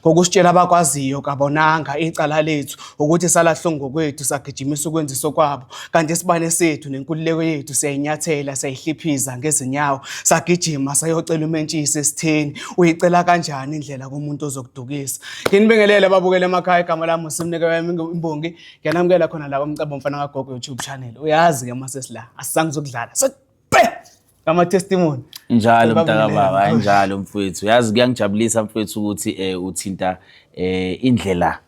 Ngokusitshela abakwaziyo kabonanga icala lethu ukuthi salahlwa ngokwethu sagijimisa ukwenziswa kwabo kanti isibane sethu nenkululeko yethu siyayinyathela sayihliphiza ngezinyawo sagijima sayocela umentshisi esitheni uyicela kanjani indlela kumuntu ozokudukisa nginibingelele ababukele emakhaya igama lami usimnike wami imbongi ngiyanamukela khona la komcebo mfana kagogo youtube channel uyazi ke uma sesila asisangizokudlala ama testimony njalo mntaka baba anjalo mfowethu yazi kuyangijabulisa mfowethu ukuthi eh uthinta eh indlela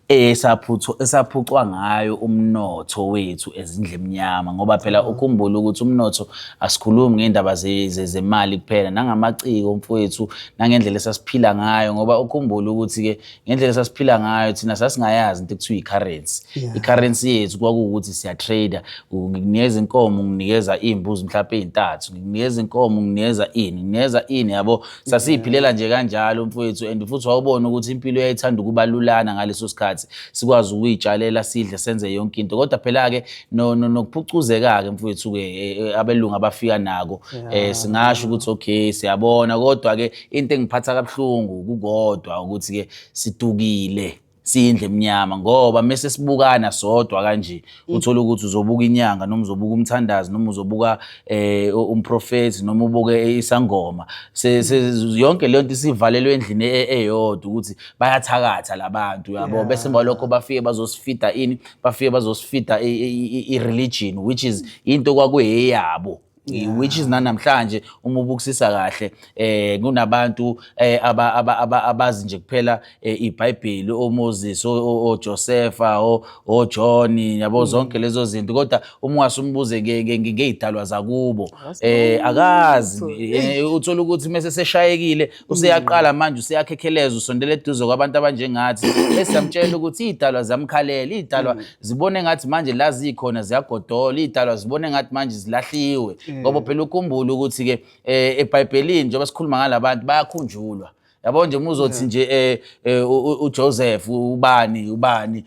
esaphutho esaphucwa ngayo umnotho wethu ezindlemnyama ngoba phela mm. ukhumbula ukuthi umnotho asikhulumi ngendaba zemali kuphela nangamaciko mfowethu nangendlela esasiphila ngayo ngoba ukhumbula ukuthi ke ngendlela esasiphila ngayo thina sasingayazi into ekuthiwa i-currency yeah. i-currency yethu kwakuwukuthi siyatrader ngikunikeza inkomo nginikeza iy'mbuzi mhlawumpe ey'ntathu ngikunikeza inkomo nginikeza ini nginikeza ini yabo sasiyiphilela nje kanjalo mfowethu and futhi wawubona ukuthi impilo yayithanda ukubalulana ngaleso sikhathi sikwazi ukuyitshalela sidle senze yonke into kodwa phela-ke nokuphucuzeka-ke mfowethu-ke e, e, abelungu abafika nako um singasho ukuthi okay siyabona kodwa-ke into engiphatha kabuhlungu kukodwa ukuthi ke situkile siyindle emnyama ngoba mese sibukana sodwa kanje mm. uthola ukuthi uzobuka inyanga noma uzobuka umthandazi noma uzobuka eh umprofeti noma ubuke isangoma mm. yonke le nto isivalelwe endlini e, e, eyodwa ukuthi bayathakatha labantu yabo bese balokho bafike bazosifida ini bafike bazosifida i religion which is into kwakuyeyabo Yeah. which is nanamhlanje uma ubukisisa kahle eh kunabantu eh, aba- aba- aba- abazi nje kuphela eh, iBhayibheli oMoses o- o- oJosefa o- oJohn yabo zonke lezo zinto kodwa uma ungasumbuze nge- nge- nge- ngezidalwa zakubo eh akazi eh, uthola ukuthi mase seshayekile useyaqala manje useyakhekheleza usondela eduze kwabantu abanjengathi esiyamtshela ukuthi idalwa zamkhalela idalwa zibone ngathi manje la zikhona ziyagodola iy'dalwa zibone ngathi manje zilahliwe mm. ngoba phela ukhumbule ukuthi-ke um eh, ebhayibhelini njengoba sikhuluma ngala bantu bayakhunjulwa yabo nje muzothi mm. nje eh, eh uJoseph ubani ubani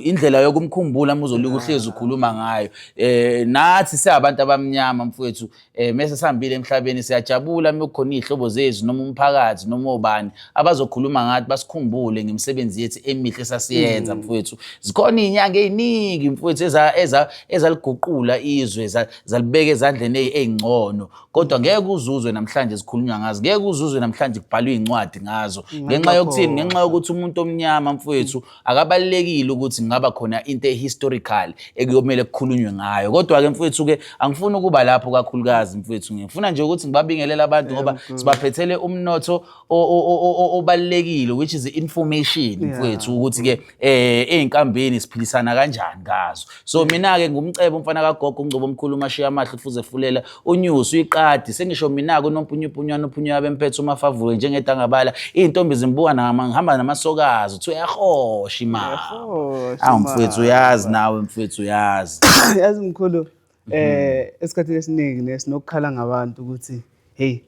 indlela yokumkhumbula muzolika uhlezi ukhuluma ngayo eh nathi siyabantu abamnyama mfowethu eh mese sihambile emhlabeni siyajabula uma kukhona izihlobo zethu noma umphakathi noma obani abazokhuluma ngathi basikhumbule ngemisebenzi yethu emihle sasiyenza mm. mfowethu zikhona izinyanga eziningi mfowethu eza eza ezaliguqula izwe zalibeka ezandleni ezingcono kodwa ngeke uzuzwe namhlanje zikhulunywa ngazo ngeke uzuzwe namhlanje kubhalwa izincwadi ngazo mm, ngenxa yokuthini ngenxa yokuthi umuntu omnyama mfowethu Akabalulekile ukuthi ngaba khona into ehistorical ekuyomele kukhulunywe ngayo. Kodwa-ke mfwethu-ke angifuni ukuba lapho kakhulukazi mfwethu. Ngifuna nje ukuthi ngibabingelele abantu ngoba sibaphethele umnotho obalulekile which is information mfwethu ukuthi-ke ezinkambeni siphilisana kanjani ngazo. so mina-ke ngumcebe umfana kagogo ungcobo omkhulu umashiya amahle ufuze fulela unyusi uyiqadi sengisho mina-ke unompunyupunywana uphunyuya bemphethe umafavule njengedangabala iy'ntombi zimbuka ngihamba namasokazi uthi uyahosha imali awu mfwethu uyazi nawe mfwethu uyazi yazi mkhulu um esikhathini esiningi nesinokukhala ngabantu ukuthi heyi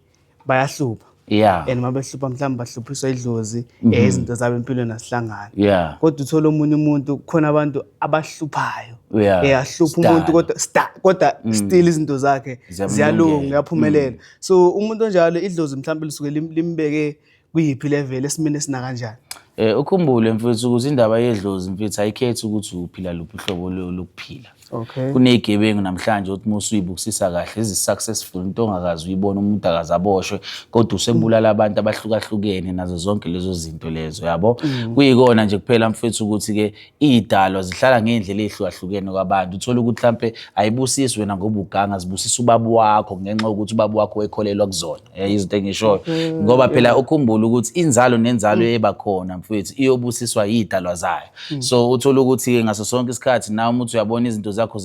bayahlupha yeah and uma behlupha mhlawumbe bahluphiswa idlozi mm -hmm. izinto zabo empilweni asihlangani yeah kodwa uthola omunye umuntu khona abantu abahluphayo yeah eyahlupha eh, umuntu kodwa kodwa mm. still izinto zakhe ziyalunga uyaphumelela mm. so umuntu onjalo idlozi mhlawumbe lisuke limbeke kuyiphi level esimeni esinakanjani Eh ukhumbule mfethu ukuthi indaba yedlozi mfethu ayikhethi ukuthi uphila luphi uhlobo lo- lokuphila. okay Kunezigebengu namhlanje uthi uma usuyibukisisa kahle ezi-successful into ongakazi uyibona umuntu akaze aboshwe kodwa usebulala abantu abahlukahlukene nazo zonke lezo zinto lezo yabo. Kuyikona nje kuphela mfethu ukuthi-ke iy'dalwa zihlala ngey'ndlela ey'hlukahlukene kwabantu. Uthole ukuthi mhlampe ayibusisi wena ngoba uganga zibusisa ubaba wakho ngenxa yokuthi ubaba wakho ekholelwa kuzona. Eh, izinto engishoyo mm-hmm. ngoba phela ukhumbula ukuthi inzalo nenzalo mm. eba khona mfowethu iyobusiswa yidalwa zayo mm. so uthola ukuthi ke ngaso sonke isikhathi nawe umuntu uyabona izinto zakho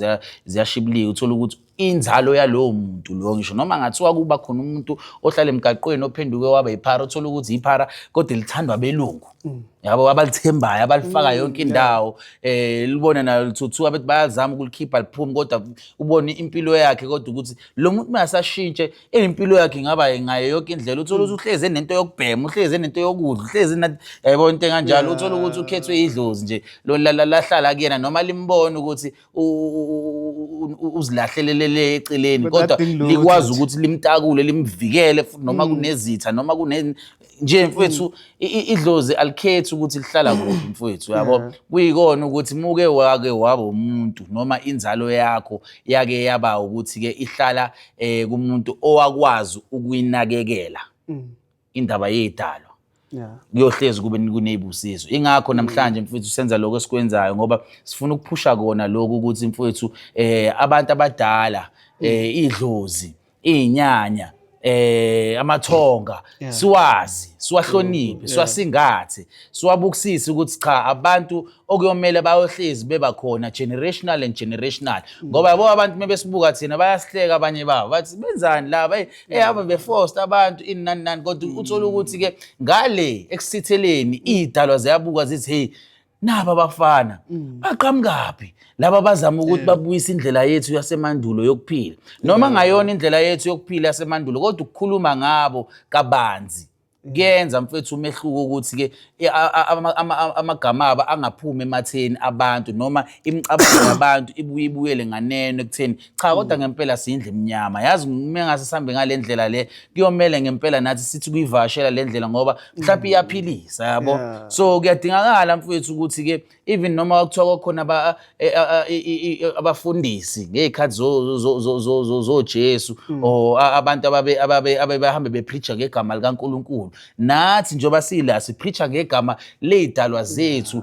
ziyashibilika uthola ukuthi inzalo yalowo muntu loyo ngisho noma ngathiwa kuba khona umuntu ohlala emgaqweni ophenduke waba yiphara uthola ukuthi yiphara kodwa lithandwa belungu mm. yabo abalithembayo abalifaka mm, yonke indawo um eh, libona nayo lithuthuka bethi bayazama ukulikhipha liphume kodwa ubone impilo yakhe kodwa ukuthi lo muntu uma asashintshe impilo yakhe ingaba ngayo yonke indlela uthole ukuthi uhlezi enento yokubhema uhlezi enento yokudla uhlezi yayibona into enganjalo uthole ukuthi ukhethwe idlozi nje lahlala kuyena noma limbona ukuthi uzilahlelelele eceleni kodwa likwazi ukuthi limtakule limvikele futhi noma mm. kunezitha noma kune nje mfowethu i- i- idlozi alikhethi ukuthi lihlala kuphi mfowethu yabo kuyikona ukuthi muke wake waba umuntu noma inzalo yakho yake yaba ukuthi ke ihlala eh kumuntu owakwazi ukuyinakekela indaba yedalo Yeah. kuyohlezi kube kuneyibusizo ingakho namhlanje mfowethu senza lokho esikwenzayo ngoba sifuna ukuphusha kona lokho ukuthi mfowethu eh abantu abadala eh idlozi iy'nyanya eh amathonga Yeah. siwazi siwahloniphe siwasingathe siwabukisise ukuthi cha abantu okuyomele bayohlezi beba khona generational and generational ngoba yabo abantu mebesibuka thina bayasihleka abanye babo bathi benzani laba eh eh, ave beforced abantu ini nani nani kodwa uthola ukuthi ke ngale ekusitheleni idalwa ziyabuka zithi hey naba abafana mm. baqhamukaphi laba bazama ukuthi eh. babuyise indlela yethu yasemandulo yokuphila noma eh. ngayona indlela yethu yokuphila yasemandulo kodwa ukukhuluma ngabo kabanzi kuyenza mfethu umehluko ukuthi-ke amagama abo angaphumi ematheni abantu noma imicabango yabantu ibuye ibuyele nganeno ekutheni cha kodwa mm. ngempela siyindle imnyama yazi uma ngase sihambe ngale ndlela le kuyomele ngempela nathi sithi kuyivashela le ndlela ngoba mhlawumbe mm. iyaphilisa yabo so kuyadingakala mfowethu ukuthi-ke even noma kuthiwa kwakhona e, abafundisi ngey'khathi zojesu mm. or abantu ababehambe bephricha ngegama likankulunkulu nathi njengoba siyila siphricha ngegama ley'dalwa zethu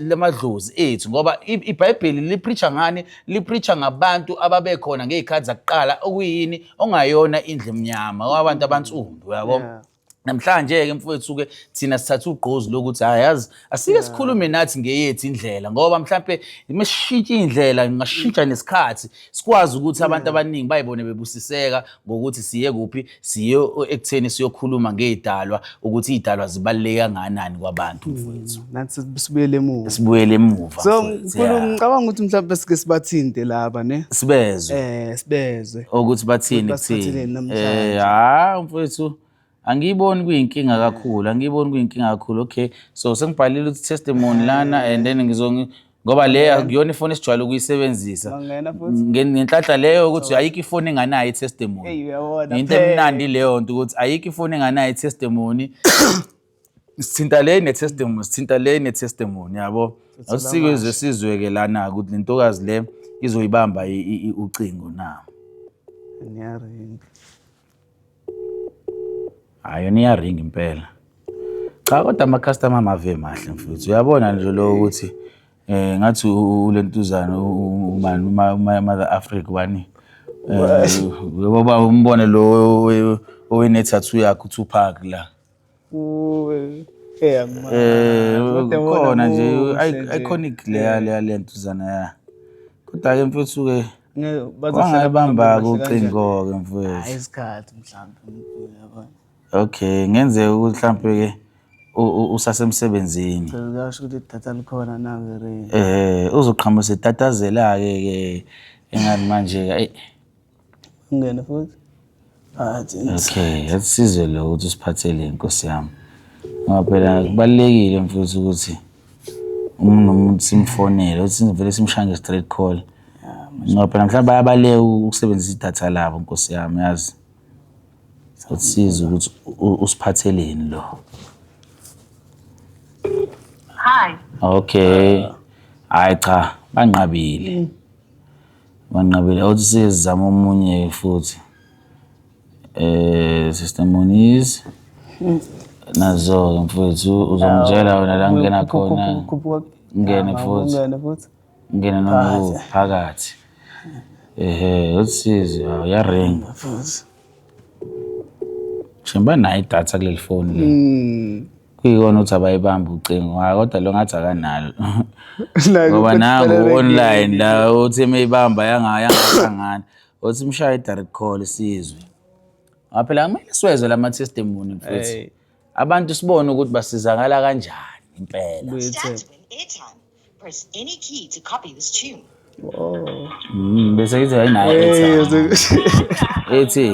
lamadlozi ethu ngoba ibhayibheli liphricha ngani lipreacher ngabantu ababekhona ngey'khathi zakuqala okuyini ongayona indlu emnyama wabantu abansundu uyabo Yeah. namhlanje-ke mfowethu-ke thina sithatha ugqozi lokuthi hhayi yazi asike sikhulume nathi ngeyethu indlela ngoba mhlampe uma sishintsha iy'ndlela ngingashintsha nesikhathi sikwazi ukuthi abantu abaningi bayibone bebusiseka ngokuthi siye kuphi siye ekutheni siyokhuluma ngey'dalwa ukuthi iy'dalwa zibaluleke kangakanani kwabantu hmm, mfowethu nathi sibuyele emuva sibuyele emuva so mkhulu ngicabanga ukuthi mhlawumbe sike sibathinte laba ne sibezwe eh sibezwe ukuthi bathini kuthini eh ha mfowethu angiyiboni kuyinkinga kakhulu angiyiboni kuyinkinga kakhulu okay so sengibhalile ukuthi testimony lana and then ngizongi ngoba le akuyona ifoni esijwayele ukuyisebenzisa Bangena futhi. Nge- ngenhlanhla leyo ukuthi ayikho ifoni enganayo i-testimony Eyi, uyabona, into phela. emnandi leyo nto ukuthi ayikho ifoni enganayo i-testimony sithinta le ne-testimony sithinta le ne-testimony yabo asikwizwe sizwe-ke lana ukuthi le ntokazi le izoyibamba i- i- i- ucingo na Ngiyaringa. Hayi yona iyaringa impela. Cha kodwa ama-customer amave mahle mfuthu. Uyabona nje lo ukuthi eh ngathi u- ulentuzana u- u- ubani uma uma mother Africa wani. Eh, Ngoba umbone lo owe- owenethathu yakhe uTupac la. Cool. Eh, man. Eh, What a khona nje wonderful i- message. iconic leya leya lentuzana ya kodwa-ke mfethu ke Ngeke- bazohlala wangayibamba-ke bangababasi kanjani. ucingo-ke Hayi, mfethu isikhathi mhlawumbe mkhulu yabona okay ngenzeka ukuthi mhlawumpe-ke u- u- usasemsebenzini Phela kuyasho ukuthi idatha likhona nawe re eh uzoqhamusa itatazela-ke ke engathi manje-ke ayi Ungene futhi. Phakathi. Okay, asisize lo ukuthi usiphathele inkosi yami. Ngoba phela kubalekile mfowethu ukuthi umuntu nomuntu simfonele, ukuthi sivele simshange straight call. Ngoba phela mhlawumbe bayabaleka ukusebenzisa idatha labo nkosi yami yazi. Sasiza ukuthi u- usiphatheleni lo. Hi. Okay. Hayi cha, banqabile. Manqabile awuthi sizama omunye futhi eh sister Moniz nazo mfowethu uzongitshela wena la ngena khona ngene futhi ngene noma phakathi ehe usizi ya ring shemba nayi data kuleli phone le hmm. kuyikona ukuthi abayibambi ucingo hhayi kodwa lo ngathi akanalo ngoba nangu online la uthi imeyibamba yangahlangana uthi mshaye i-direct call isizwe ngoba phela kumele siwezwe la ma-testimony futhi abantu sibone ukuthi basizakala kanjani impela Buyethemba. Press any key to copy this tune. Oh. Mm, bese ithi hayi naye ethi. Ethi.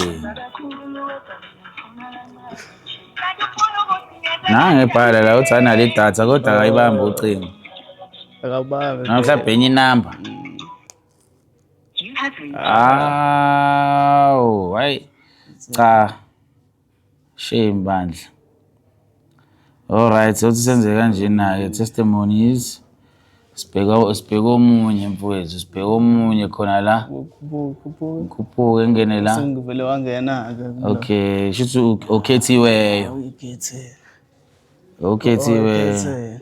Nange bhala la uthi anale idatha kodwa akayibambi ucingo. Akabambi. Na mhlawumbe enye inamba. Awu, hayi. Cha. Shame bandla. Alright sothi senze kanjena-ke testimonies. Sibheka sibheka omunye mfowethu, sibheka omunye khona la. Khuphuke ngene la. Sengivele wangena-ke. Okay, shuthi okhethiweyo. Uyikhethiwe. Okhethiweyo.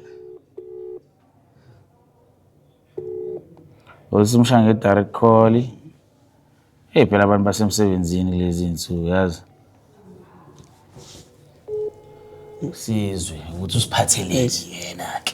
Ngokuthi umshaya nge-direct call. Eyi phela abantu basemsebenzini kulezi iy'nsuku yazi. Sizwe ukuthi usiphatheleni yena-ke.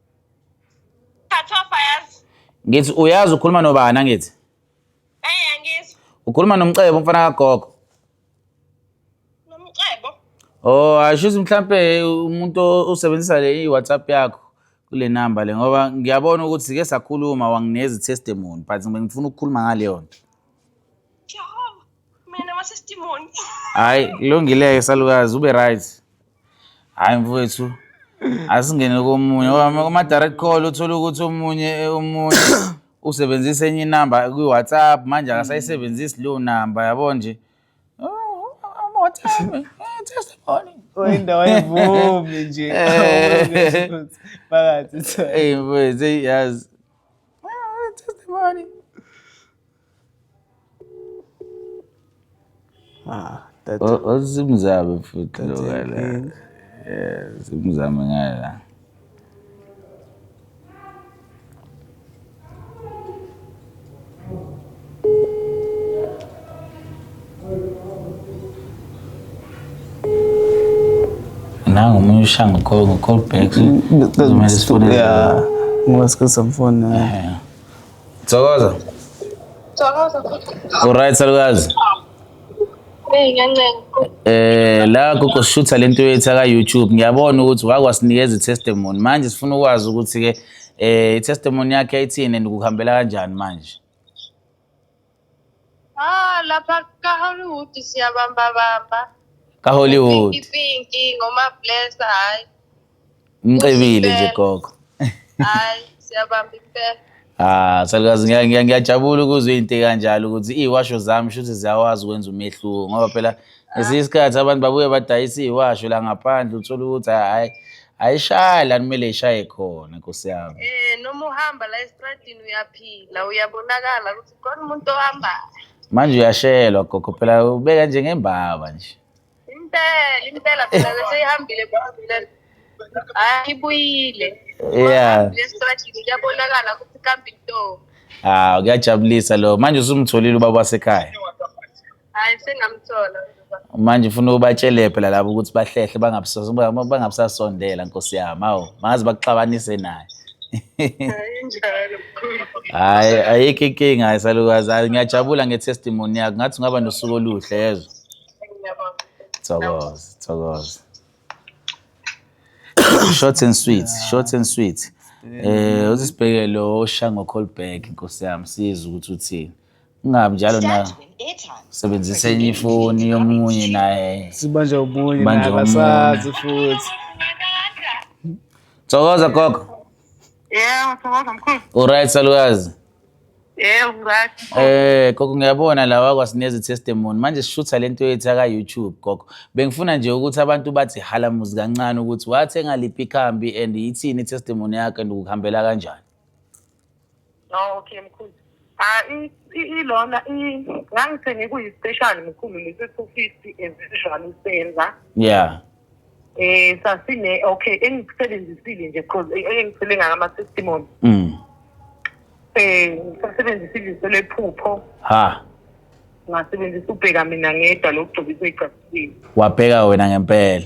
Thathofa yazi. Ngithi uyazi ukhuluma nobani angithi? Hey angizwa. Ukhuluma nomcebo umfana kagogo. Nomcebo. Oh, asho ukuthi mhlambe umuntu osebenzisa le i-WhatsApp yakho kule number le ngoba ngiyabona ukuthi sike sakhuluma wanginezi testimony but ngifuna ukukhuluma ngale yona. Jehova. mina masesitimoni hayi kulungileke salukazi ube right hayi mfowethu asingene komunye Ngoba kuma-direct call uthole ukuthi omunye eh, omunye usebenzisa enye inamba kwi-whatsapp manje akasayisebenzisi leyo namba yabo nje Oh, I'm WhatsApp, eh, testimony. Oyindawo ayivumi nje. Eh. Phakathi. Hey mfowethu eyi yazi Ah, testimony Ah, that O- Osimzame futhi lo That's ngala. inkinga. Eh, simzame ngala. Nangu omunye ushaya ngo-call- ngo-call back. so- Kumele sifonele- yeah ngoba sikuzamfona Eh, Thokoza. Thokoza. Alright salukazi. Hey ngiyancenga. Eh la gogo shutha lento yethu ka YouTube ngiyabona ukuthi wakwasinikeza itestimony manje sifuna ukwazi ukuthi ke eh itestimony yakhe ayithini and kuhambela kanjani manje. Ah, lapha kaHollywood siyabamba bamba. KaHollywood. Pinky pinky ngoma bless hayi. Mcebile nje gogo. Hayi siyabamba impela. Ah, salukazi ngiya- ngiya- ngiyajabula ukuzwa into kanjalo ukuthi iwasho zami shuthi ziyawazi ukwenza umehluko ngoba phela ngesinye isikhathi abantu babuye badayisa iyiwasho la ngaphandle uthole ukuthi hayi ayishayi la kumele ishaye khona nkosi yami Eh noma uhamba la estradini uyaphila uyabonakala ukuthi khona umuntu ohambayo. manje uyashelwa gogo phela ubeka njengembaba nje Impela impela phela bese ihambile phambile. Hayi ibuyile. yeah Uhambile estradini uyabonakala ukuthi kambe into. ah kuyajabulisa lo manje usumtholile ubaba wasekhaya hayi sengamthola manje ufuna ubatshele phela labo ukuthi bahlehle bangabusasondela nkosi yami awu bangaze bakuxabanise naye hayi ayikho inkinga hayi salukazi hayi ngiyajabula nge-testimony yakho ngathi ungaba nosuku oluhle yezwa thokoza thokoza short and sweet short and sweet um eh, uzisibhekele oshango colberg nkosi yami siza ukuthi uthini ungabi njalo na usebenzisa enye ifoni yomunye naye sibanje ubunye Manje naye abasazi futhi thokoza gogo Yebo, thokoza mkhulu. uright salukazi Yebo, right. Eh gogo ngiyabona la wakwasineza testimony manje sishutha lento yethu aka YouTube gogo bengifuna nje ukuthi abantu bathi hala muzi kancane ukuthi wathenga liphi ikhambi and yithini testimony yakhe and ukuhambela kanjani Oh, okay mkhulu. Ah i- i- ilona i- ngangithenge kuyi-special mkhulu lesi-two fifty as usual usenza. Yeah. Eh sasine okay engikusebenzisile nje cause eh, engisele ngama testimony. Mm. Eh ngisebenzisile iselephupho Ha. ngasebenzisa ubheka mina ngedwa lokugcobisa igcasile. Wabheka wena ngempela.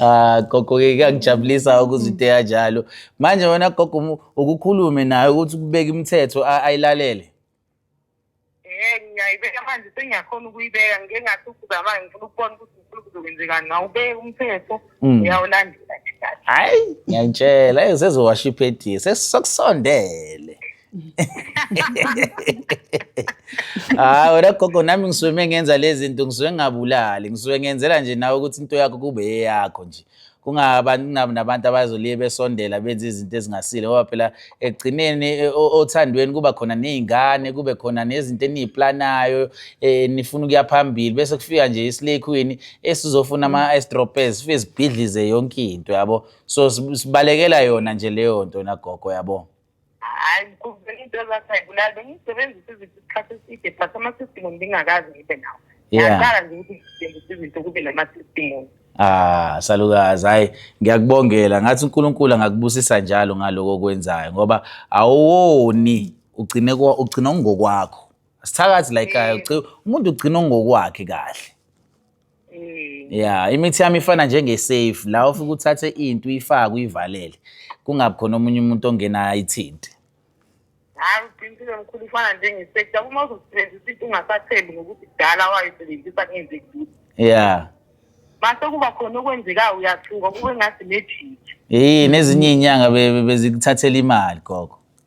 Ah gogo ke kuyangijabulisa ukuzwa into enjalo. Manje wena gogo mu- ukukhulume naye ukuthi kubeka imithetho a- ayilalele. Eh ngiyayibeka manje sengiyakhona ukuyibeka ngike ngathi ukuzama ngifuna ukubona ukuthi ngifuna kuzokwenzekani ngawubeka umthetho Mm. uyawulandela nje kahle. Hayi ngiyakutshela hey sezowasha iphediye sesikusondele. hayi wena gogo nami ngisuke mengenza lezi zinto ngisuke ngingabulali ngisuke ngenzela nje nawe ukuthi into yakho kube eyakho nje kungabantu nabantu abazoliye besondela benza izinto ezingasile ngoba phela ekugcineni e, othandweni kuba khona nezingane kube khona nezinto eniyiplanayo eh, nifuna ukuya phambili bese kufika nje islay queen esizofuna ama estropes sifike sibhidlize yonke into yabo so sibalekela yona nje leyo nto nagogo yabo hayi kuvela into ezathi ayibulali bengiyisebenzisa izinto isikhathi eside but ama-system ngingakazi ngibe nawo Yeah. yaqala nje ukuthi ngisebenzisa izinto kube nama-system Ah, salukazi. Hayi, ngiyakubongela. Ngathi uNkulunkulu angakubusisa njalo ngaloko okwenzayo ngoba awoni ugcine kwa ugcina ungokwakho. Sithakathi la ekhaya, uci- umuntu ugcina ungokwakhe kahle. ya imithi yami ifana njengesafe la ufike uthathe into uyifake uyivalele kungabi khona omunye umuntu ongena ayithinte hayi uqinisile mkhulu ifana njengesekta uma uzosebenzisa into ungasathembi ngokuthi kudala wayisebenzisa kungenzeki lutho ya mase kuba khona okwenzekayo uyathuka kube ngathi nejiki yini ezinye iy'nyanga be- be- bezikuthathela imali gogo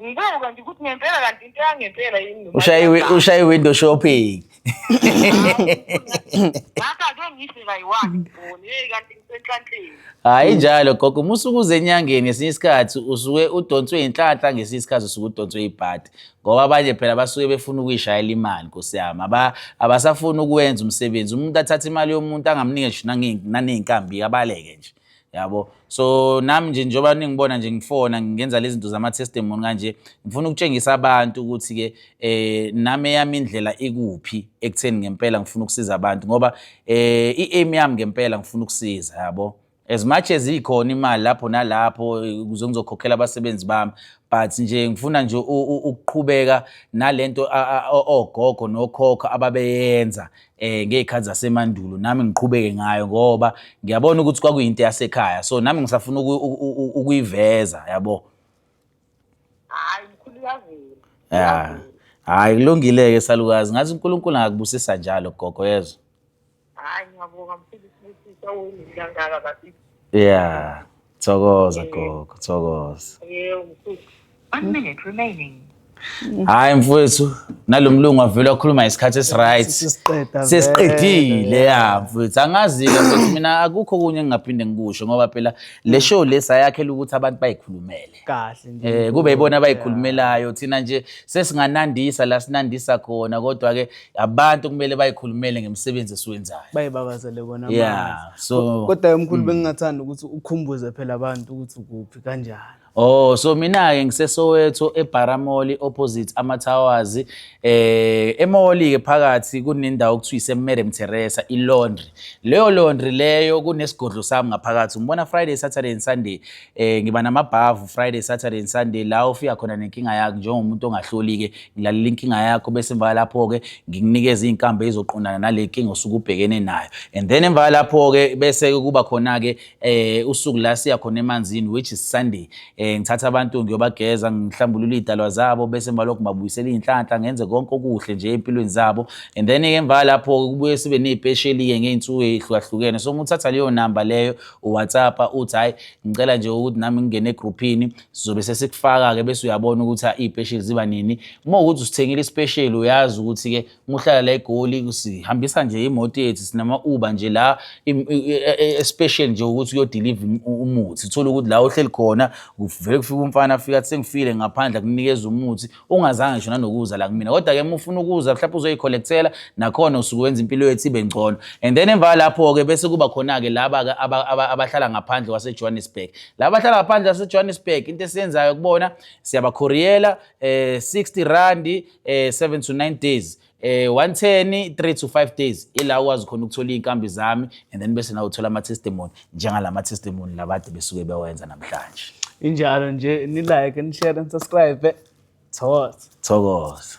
Ngibuka nje ukuthi ngempela kanti into yangempela yini noma Ushaya iwi- iyadala. ushaya i-window shopping. Ngakho ake ngihle kayi-one ngibone, hey kanti ngisenhlanhleni. Hayi njalo gogo, uma usuke uze enyangeni ngesinye isikhathi usuke udonswe inhlanhla ngesinye isikhathi usuke udonswe ibhadi. Ngoba abanye phela basuke befuna ukuyishayela imali Nkosi yami. Aba abasafuni ukwenza umsebenzi. Umuntu athatha imali yomuntu angamnike ngisho nange- naneyinkambi abaleke nje. yabo so nami nje njengoba ningibona nje ngifona ngenza lezi zinto zama-testimony kanje ngifuna ukutshengisa abantu ukuthi-ke um eh, nami eyami indlela ikuphi ekutheni ngempela ngifuna ukusiza abantu ngoba um i-aim yami ngempela ngifuna ukusiza yabo as much as ikhona imali lapho nalapho ukuze ngizokhokhela abasebenzi bami but nje ngifuna nje ukuqhubeka nalento ogogo nokhokho ababeyenza eh ngeyikhathi zasemandulo nami ngiqhubeke ngayo ngoba ngiyabona ukuthi kwakuyinto yasekhaya so nami ngisafuna ukuyiveza yabo hayi mkhulu yavela yeah hayi kulungile ke salukazi ngathi uNkulunkulu angakubusisa njalo gogo yezwa hayi ngiyabonga mfundisi sisawuni ngangaka bathi yeah Thokoza gogo, thokoza. Yebo mkhulu. One minute remaining. Hayi mfowethu, nalomlungu avele wakhuluma isikhathi esiright. Sisiqeda Sesiqedile ya mfowethu. Angazi-ke ukuthi mina akukho kunye engingaphinde ngikusho ngoba phela le show le sayakhela ukuthi abantu bayikhulumele. kahle nje. Eh kube yibona abayikhulumelayo thina nje sesinganandisa la sinandisa khona kodwa ke abantu kumele bayikhulumele ngemisebenzi esiwenzayo bayibabazele kona yeah so kodwa yomkhulu mm. bengingathanda ukuthi ukhumbuze phela abantu ukuthi ukuphi kanjani Oh so mina ke ngiseSoweto eBaramoli opposite ama Towers eh emoli ke phakathi kunendawo okuthiwa iseMadam Teresa ilaundry leyo laundry leyo kunesigodlo sami ngaphakathi ngibona Friday Saturday and Sunday eh ngiba namabhavu Friday Saturday and Sunday la ufika khona nenkinga yakho njengomuntu ongahloli ke ngilalela inkinga yakho bese emva lapho ke ngikunikeza izinkambe ezoqondana nale nkinga osuke ubhekene nayo and then emva lapho ke bese kuba khona ke eh usuku la siya khona emanzini which is Sunday eh ngithatha abantu ngiyobageza ngihlambulula idalwa zabo bese emva lokho ngibabuyisela inhlanhla ngenze konke okuhle nje empilweni zabo and then emva lapho kubuye sibe nezipesheli ke ngeinsuku ezihlukahlukene so nguthatha leyo number leyo uwhatsappa uthi hhayi ngicela nje ukuthi nami ngingene egruphini sizobe sesikufaka-ke bese uyabona ukuthi iy'pesheli ziba nini uma ukuthi usithengile isipesheli uyazi ukuthi-ke uma uhlala la egoli sihambisa nje imoto yethu sinama-uba nje la e, e, especial nje ukuthi uyodiliva umuthi uthole ukuthi la ohleli khona kuvele kufika umfana afika athi sengifile ngaphandle akunikeza umuthi ungazange ngisho nanokuza la kumina kodwa ke mufuna ukuza mhlawumbe uzoyicollectela nakhona usuke wenza impilo yethu ibe ngcono and then emva lapho ke bese kuba khona ke laba ke abahlala ngaphandle kwase Johannesburg laba abahlala ngaphandle kwase Johannesburg into esiyenzayo kubona siyabakhoriyela eh 60 rand eh 7 to 9 days eh 110 3 to 5 days ila ukwazi khona ukuthola izinkambi zami and then bese nawe uthola ama testimony njengalama testimony labade besuke bewenza namhlanje injalo nje ni like ni share and subscribe thokoza thokoza